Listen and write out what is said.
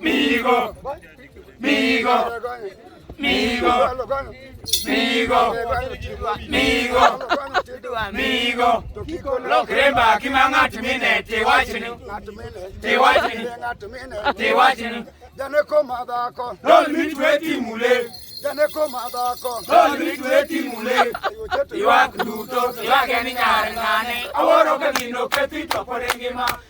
Migo, migo, migo, migo, migo, migo. Lokre mbaki ma ng'at mine tiwachni, tiwachni, tiwachni. Jane koma dhako. Lol mitwe timule. Jane koma dhako. Lol mitwe timule. Ywak duto, ywak en nyar ng'ane. Awuoro ka gino kethi to pod engima.